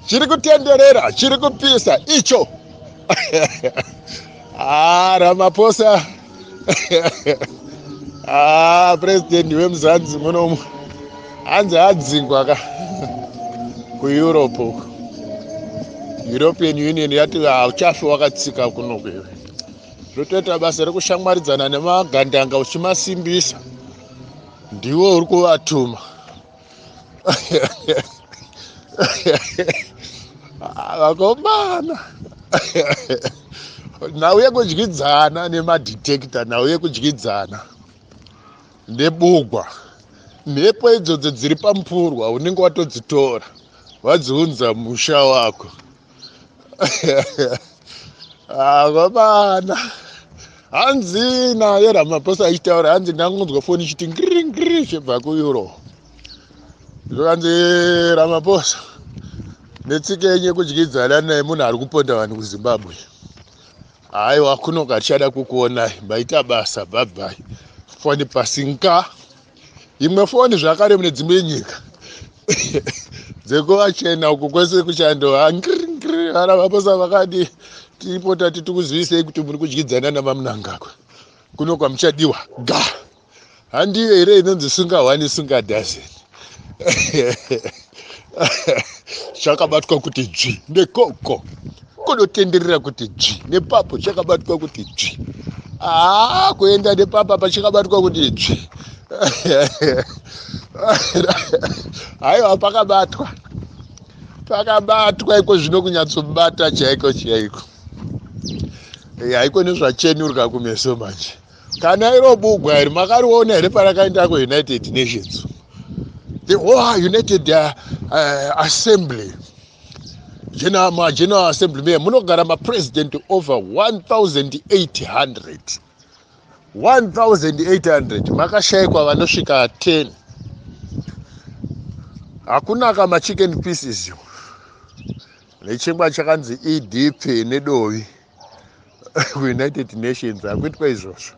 chiri kutenderera chiri kupisa icho ah, ramaposa ah, president wemuzanzi munomu hanzi adzingwa ka kueurope uku european union yati hauchafi wakatsika kuno kwewe zvotoita basa rekushamwaridzana nemagandanga uchimasimbisa ndiwe uri kuvatuma vakomana nhau yekudyidzana nemadetector nhau yekudyidzana nebugwa mhepo idzodzo dziri pamupurwa unenge watodzitora wadziunza musha wako avabana ah, hanzi naye ramaposa achitaura hanzi ndangonzwa foni ichiti ngringri chibva kueuro zvokanzi ramaposa netsika yenyu yekudyidzana naye munhu ari kuponda vanhu kuzimbabwe haiwa kunoka tichada kukuonai maita basa bhabhai foni pasinka imwe foni zvakare mune dzimwe nyika dzekuvachena uku kwese kuchando hangringri vana vaposa vakadi tiripo tati tikuzivisei kuti muri kudyidzana namamunangagwa kuno kwamuchadiwa ga handiyo here inonzi sungahwani sungadhazeni chakabatwa kuti dzvi nekoko kunotenderera kuti dzvi nepapo chakabatwa kuti dzvi haa ah, kuenda nepapa pachakabatwa kuti dzvi haiwa pakabatwa pakabatwa iko zvino kunyatsobata chaiko chaiko haiko nezvachenurwa kumeso manje kana iro bugwa iri makariona here parakaenda kuunited nations the whole united uh, uh, assembly general, ma general assembly me munogara mapresident over 1800 1800 makashayikwa vanosvika 10 hakunaka machicken pieces nechingwa chakanzi edp nedovi kuunited nations hakuitwa izvozvo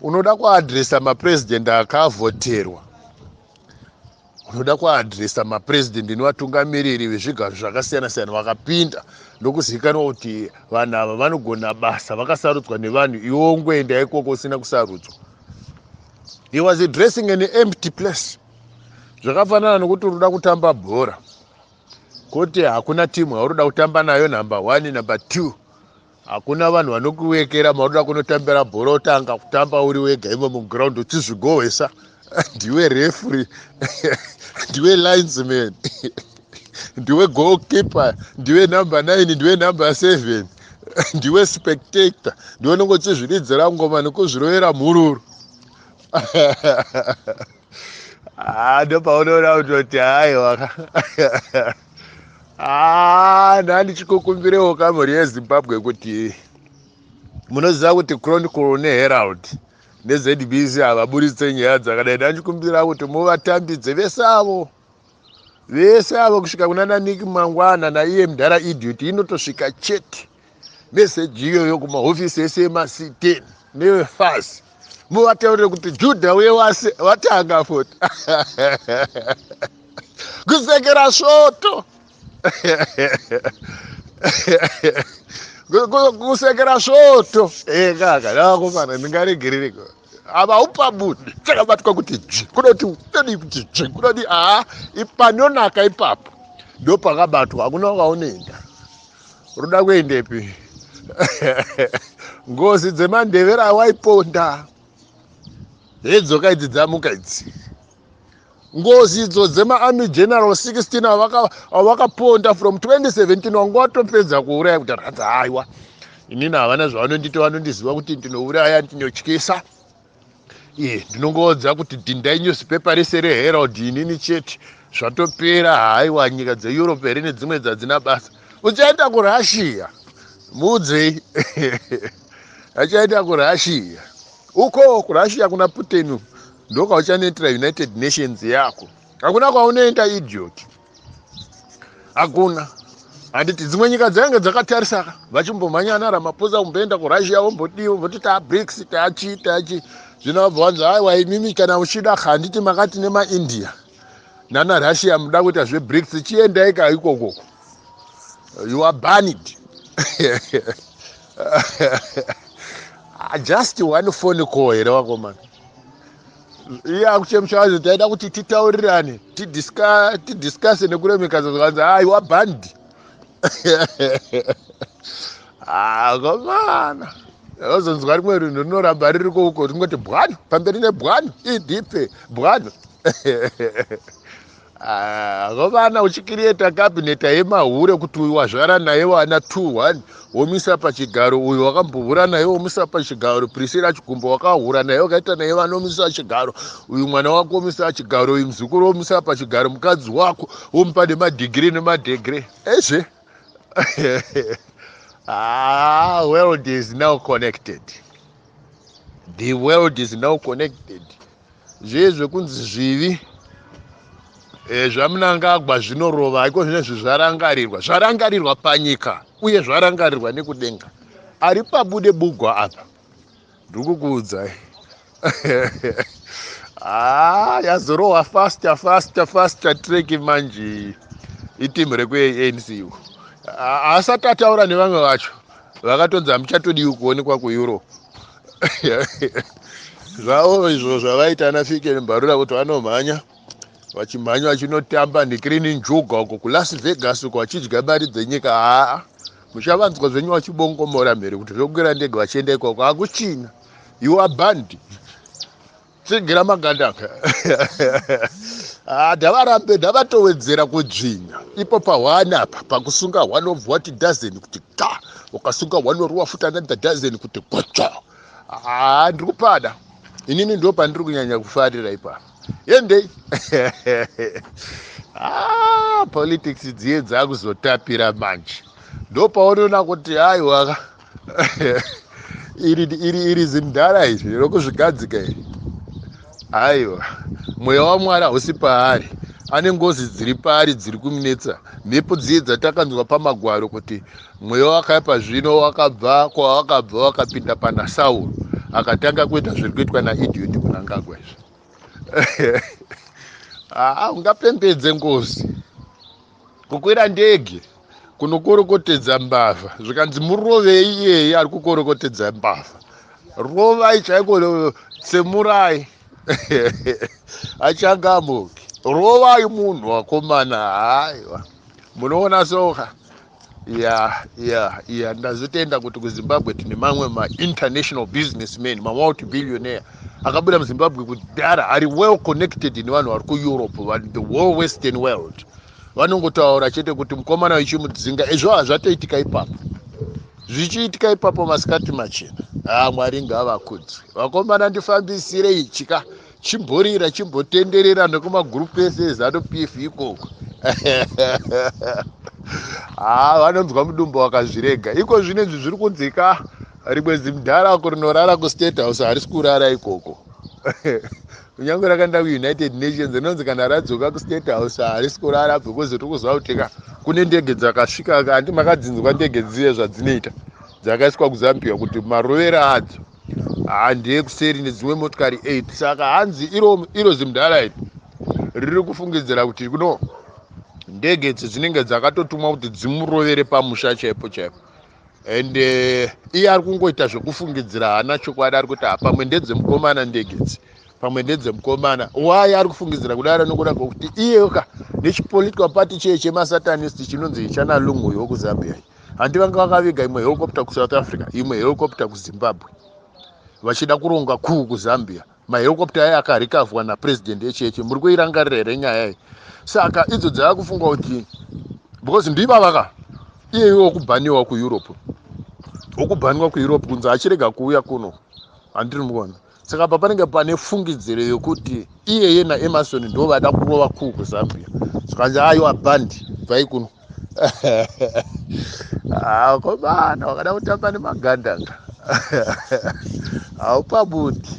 unoda kuadresa mapresident akavhoterwa unoda kuadresa mapresident nevatungamiriri vezvigaro zvakasiyana siyana vakapinda ndokuzivikanwa kuti vanhu ava vanogona basa vakasarudzwa nevanhu iwo ngoenda ikoko usina kusarudzwa he was addressing an empty place zvakafanana nokuti unoda kutamba bhora Kwete hakuna team yauri kuda kutamba nayo number one number two hakuna vanhu vanokuwekera mauri kuda kunotambira bhora otanga kutamba uri wega imo muground uchizvigohwesa ndiwe refree ndiwe linesman ndiwe goalkeeper ndiwe number nine ndiwe number seven ndiwe spectator ndiwe unenge uchizviridzira ngoma nekuzvirovera mhururu Ah, ndopaunoona kutoti haiwa ah, ndandichikukumbirewo kamhuri yezimbabwe kuti munoziva kuti chronicle neherald nezbc havaburitse nyaya dzakadai ndandichikumbira kuti muvatambidze vese avo vese avo kusvika kunana niki mangwana naiye mdhara idiot inotosvika chete meseji iyoyo kumahofisi ese emasiteni nevefasi muvataurire kuti judha uye wase watanga futi kusekera svoto kusekera svoto e kaka ndavakomana ndingaregerereko ava upa munhu chakabatwa kuti dzvi kunoti kunodii kuti dzvi kunodii aa panonaka ipapo ndopakabatwa hakuna wakaonenda Ruda kuendepi? Ngozi dzemandevera awaiponda. Hedzoka idzi dzamuka idzi. Ngozi idzo dzema army general 16 avaka avakaponda from 2017 wanga watopedza kuuraya kuti ratsa haiwa. Inini havana zvavanondita vanondiziva kuti ndinouraya ndinotyisa. iye ndinongoudza kuti dhindai newspaper rese reherald inini chete zvatopera haiwa nyika dzeeurope here nedzimwe dzadzina basa uchaenda kurussia muudzei achaenda kurussia uko kurussia kuna putin ndokwauchanetera united nations yako hakuna kwaunoenda idiot hakuna handiti dzimwe nyika dzainge dzakatarisaka vachimbomhanya ana ramaposa kumboenda kurussia vombodii vomboti taabrics taachii taachii zvino vabva vanzi aiwa imimi kana uchida handiti makati nemaindia nana russia muda kuita zvebrics chiendai ka ikokoko you are banid just one phone call here vakomana iye akuchemsha vanzi taida kuti titaurirane tidiscase nekuremekedza zvakanzi aiwa bhandi akomana ah, ozonzwa rimwe rinhu rinoramba riri kouko ringoti bwano pamberi nebwano idp bwano Ah, vana uchikiriyeta kabineta yemahure kuti uyu wazvara naye wana two one womisa pachigaro uyu wakambohura naye womisa pachigaro prisira chigumbo wakahura naye wakaita naye vana womisa chigaro uyu mwana wako womisa chigaro uyu muzukuru womisa pachigaro mukadzi wako womupa nemadhigiri nemadhegre ezve ah, world is now connected the world is now connected zviye zvekunzi zvivi e, zvamunangagwa zvinorova haiko zvinezvi zvarangarirwa zvarangarirwa panyika uye zvarangarirwa nekudenga ari pabude bugwa apa ndikukuudzai haa ah, yazorohwa faster faster faster track manje itimu rekuanc iko ah, asati ataura nevamwe vacho vakatonzi hamuchatodiwi kuonekwa kueurope zvavo izvo zvavaita ana fike nembarura kuti vanomhanya vachimhanya vachinotamba necrini njuga uko kulas vegas uko vachidya mari dzenyika haa muchavanzwa zvenyu vachibongomora mhere kuti zvokwira ndege vachienda ikoko hakuchina you are band tsigira maganda ah, ndavarambe ndavatowedzera kudzvinya ipo pahwana apa pakusunga hwana obva wati dazeni kuti ka ukasunga hwana uri wafuta another dazeni kuti gotsva ah, ndiri kupada inini ndo pandiri kunyanya kufarira ipapa yendei ah, politics dziye dzakuzotapira manje ndopaonoona kuti aiwaka iri iri iri zimdara izvi rokuzvigadzika iri aiwa mweya wamwari hausi paari ane ngozi dziri paari dziri kumunetsa mhepo dziye dzatakanzwa pamagwaro kuti mweya wakaipa zvino wakabva kwawakabva wakapinda pana sauro akatanga kuita zviri kuitwa naidioti kunangagwa izvi haa ungapembedze ngozi kukwira ndege kunokorokotedza mbavha zvikanzi murovei iyeye ari kukorokotedza mbavha rovai chaiko tsemurai achangamuki rovai munhu wakomana haiwa munoona soka Yeah, yeah, yeah. Ndazotenda kuti kuZimbabwe tine mamwe ma-international businessmen, ma-multi-billionaire akabuda muZimbabwe kudhara ari well connected nevanhu vari kuEurope, vanhu the whole western world. Vanongotaura chete kuti mukomana wechimudzinga, ezvo hazvatoitika ipapo. Zvichiitika ipapo masikati machena. Ah, Mwari ngavakudzwe. Vakomana ndifambisirei chika. chimborira chimbotenderera nekumagroup ese ezanu pf ikoko haa ah, vanonzwa mudumbu wakazvirega iko zvino izvi zviri kunzika rimwe zimdhara ko rinorara kustate house harisi kurara ikoko kunyange rakaenda kuunited nations rinonzi kana radzoka kustate house harisi kurara because tiri kuziva kuti ka kune ndege dzakasvika kati makadzinzwa ndege dziye zvadzinoita dzakaiswa kuzambia kuti marovero adzo handei kuseri nedzimwe motikari 8 saka hanzi iro, iro zimdala iri riri kufungidzira kuti kuno ndege idzi dzinenge dzakatotumwa kuti dzimurovere pamusha chaipo chaipo and uh, iye ari kungoita zvekufungidzira haana chokwadi ari kuti hapamwe ndedzemukomana ndege idzi pamwe ndedzemukomana why ari kufungidzira kudaro nokuda kwokuti iyeyoka nechipolitical party cheye chemasatanist chinonzi chana lungu uyo wekuzambia handi vanga vakaviga imwe helicopter kusouth africa imwe helicopter kuzimbabwe vachida kuronga kuu kuzambia mahelicopter aye akarikavwa napresident echeche muri kuirangarira here nyaya iyi saka idzo dzava kufunga kuti because ndivavaka iyeyo wokubhaniwa kueurope wokubhaniwa kueurope kunzi achirega kuuya kuno handiri muona saka apa panenge pane fungidziro yokuti iyeye naemarson ndo vaida kurova kuu kuzambia zvikanzi aiwa bhandi bvai kuno akomana ah, wakada kutamba nemagandanga haupabudi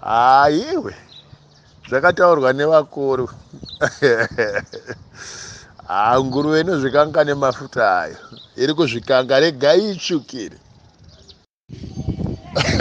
haiwe ah, zvakataurwa nevakuru haa ah, nguruve inozvikanga nemafuta ayo iri kuzvikanga regai itsvukire